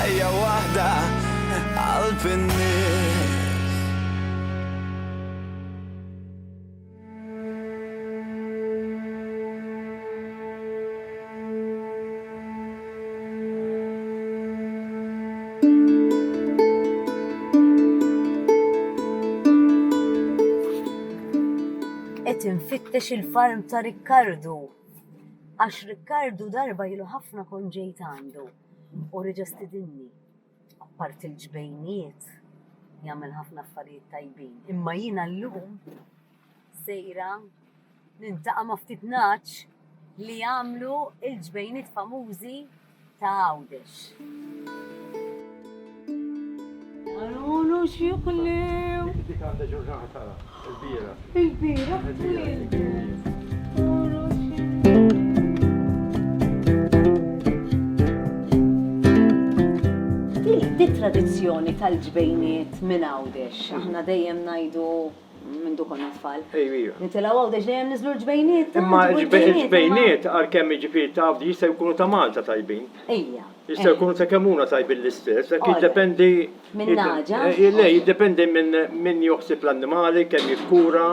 Ħajja waħda qalb in-nies. nfittex il-farm ta' Rikkardu. Għax Rikkardu darba ilu ħafna kont ġejt għandu. U reġa' stidinni. Apparti l-ġbejnijiet, jagħmel ħafna affarijiet tajbin. Imma jiena llum sejra niltaqa' ma' ftit ngħaġ li jagħmlu l-ġbejniet famużi ta' Għawdex. Għalulu xjuħlew. Dik għandha ġurnata tara, il-bira. Il-bira, Di tradizzjoni tal-ġbejniet minn għawdex, aħna dejjem najdu mindu konna tfal. Nitilgħu għaw deġ dejjem niżlu l-ġbejniet. Imma l-ġbejniet għalkemm jiġifieri taf jista' jkunu ta' Malta tajbin. Ejja. Jista' jkunu ta' kemm huma tajbin l-istess, hekk jiddependi. Minn naġa. Eh, le, jiddependi minn min joħsib l-annimali, kemm jikkura.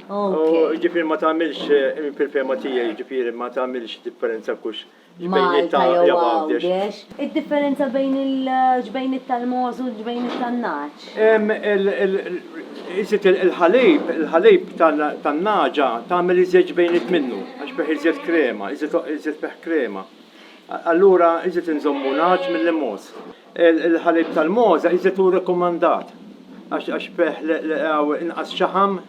Ġifieri ma tagħmilx eh, fil-fema tiegħi ġifieri ma tagħmilx differenza kux Malta jew Għawdex. Id-differenza bejn il-ġbejniet tal-mogħoż u l-ġbejniet tan-nagħaġ? Iżjed il-ħalib, il-ħalib tan-nagħġa tagħmel iżjed ġbejniet minnu għax fih iżjed krema, iżjed fih krema. Allura iżjed inżommu nagħaġ milli mogħoż. Il-ħalib tal-mogħoż iżjed hu rikkomandat għax fih inqas xaħam.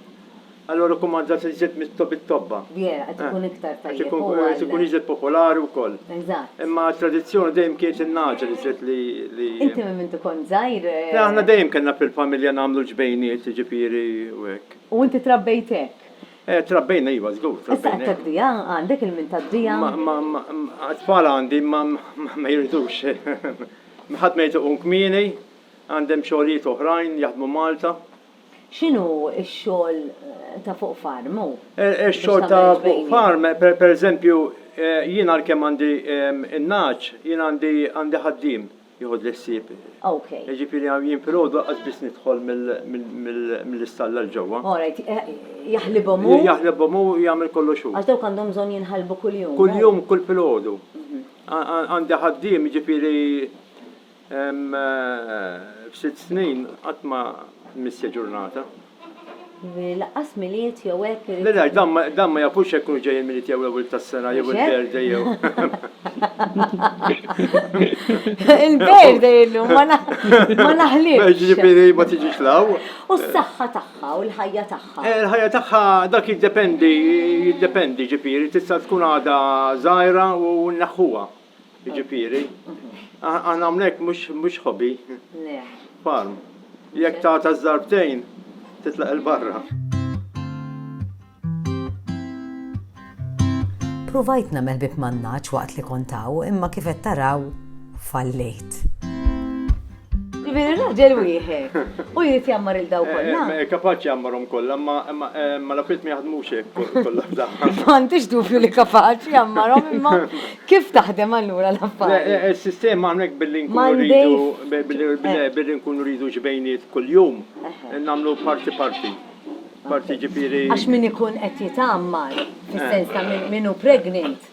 Allura rikkumandat li żżid mit-tobba. Yeah, qed ikun iktar tajjeb. Qed ikun, qed ikun iżjed popolari wkoll. Eżatt. Imma t-tradizzjoni dejjem kienet in-nagħġel iżjed li, li. Inti minn meta kont żgħir? Le, aħna dejjem kellna fil-familja nagħmlu l-ġbejniet, jiġifieri u hekk. U inti trabbejt hekk? Eh, trabbejna iva, żgur, trabbejna. Issa qed tad-dija? Għandek il-min tad-dija? Ma, ma, ma, għat-tfal għandi, imma ma jridux. Ħadd ma jrid iqum kmieni, għandhem xogħlijiet oħrajn, jaħdmu Malta. X'inhu x-xogħol ta' fuq farm hu? Ix-xogħol ta' fuq farm, pereżempju, jien għalkemm għandi n-nagħaġ, jien għandi għandi ħaddiem jieħodli ħsieb. Ok. Jiġifieri jien filgħodu lanqas biss nidħol mill-istalla 'l ġewwa. All right. Jaħlibhom hu? Jaħlibhom hu, jagħmel kollox hu. Għax dawk għandhom bżonn jinħalbu kuljum. Kuljum, kull filgħodu. Għandi ħaddiem, jiġifieri F'sitt snin qatt ma missja ġurnata. Laqqas Milied jew hekk irid. Le le, dan ma jafux jekk kienux ġejjin Milied jew l-Ewwel tas-Sena jew il-Birthday jew. Il-Birthday illum ma naħlifx. Jiġifieri ma tiġix 'l hawn. U s-saħħa tagħha u l-ħajja tagħha? Il-ħajja tagħha dak jiddependi, jiddependi jiġifieri tista' tkun għadha żgħira u nneħħuha. Jiġifieri, aħna hawnhekk mhux hobby. Le. Farm. Jekk tagħta ż-żarbtejn, titlaq 'il barra. Pruvajt nagħmel bieb man-nagħaġ waqt li kont hawn imma kif qed taraw, fallejt. Ġifieri raġel wieħed. U jrid jammar il daw eh, kollha. Eh, kapaċi jammarhom kollha, ma ma l-affarijiet ma jaħdmux hekk kollha f'daħħa. M'għandix dubju li kapaċi jammarhom imma kif taħdem allura l-affarijiet? Eh, is-sistema hawnhekk billi nkunu rridu billi nkunu rridu ġbejniet kuljum nagħmlu parti parti. Parti ġifieri. Għax min ikun qed jitammar, fis-sens ta' min hu pregnant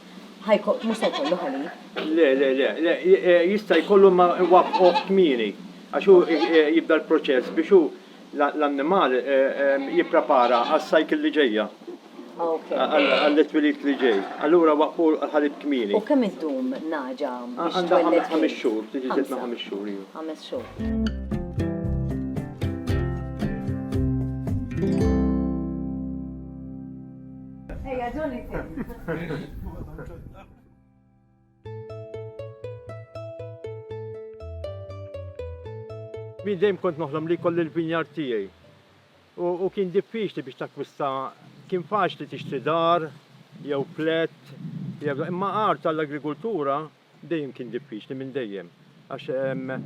mhux se jkollu ħalib. Le, le, le, le, eh, jista' jkollu ma waqqgħuh kmieni, għax hu eh, eh, jibda l-proċess biex hu l-annimal jipprepara għas-cycle li ġejja. Għall-twilid li ġej. Allura waqqfu l-ħalib kmieni. U kemm iddum naġa biex twelled? Ħames xhur, tiġi ġitna ħames xhur. Ħames xhur. Ejja, ġolli Min dejjem kont noħlom li kolli l-vinjar tiegħi. U kien diffiċli biex takwista kien faċli tixtri dar, jew flat, imma art tal-agrikultura Dejjem kien diffiċli minn dejjem. Għax hemm.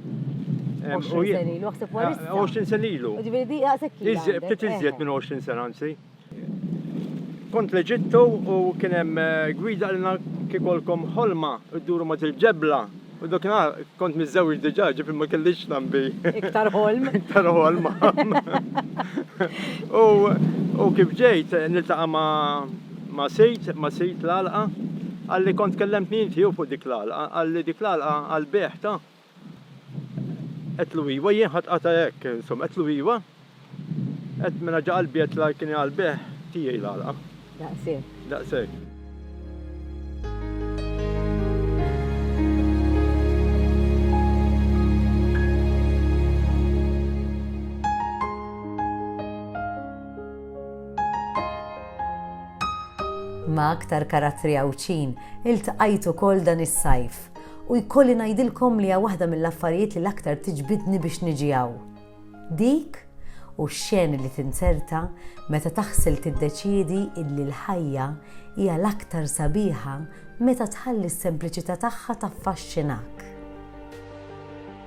20 sen ilu, għasib għalis. 20 sen ilu. Ġviri di għasib kien. Iżjed, btit iżjed minn 20 sen għansi. Kont leġittu u kien hemm eh, gwida għalina kikolkom ħolma u d-duru ma ġebla U dokna kont mizzewġ diġa, ġifri ma kellix nambi. Iktar ħolm. Iktar ħolm. U kif ġejt, niltaqa ma Ma' sid, ma' sid l-għalqa. Qalli kont kellemtni inti jew fuq dik l-għalqa, qalli dik l-għalqa għall-bejgħ ta'. Għedtlu iwa, jien ħadt qatgħa hekk, insomma, għedtlu iwa. Għedt mela ġa qalbi għedt la kien hi għall-bejgħ tiegħi l-għalqa. Daqshekk. Daqshekk. Ma' aktar karattri Għawdxin iltqajt ukoll dan is-sajf u jkolli ngħidilkom li hija waħda mill-affarijiet li l-aktar tiġbidni biex niġi hawn. Dik u x-xeni li tinzerta meta taħsel tiddeċiedi illi l-ħajja hija l-aktar sabiħa meta tħalli s-sempliċità tagħha taffaxxinak.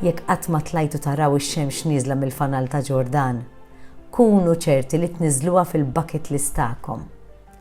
Jekk qatt ma tlajtu taraw ix-xemx nieżla mill-fanal ta' Ġordan, kunu ċerti li tniżżluha fil-bucket list tagħkom.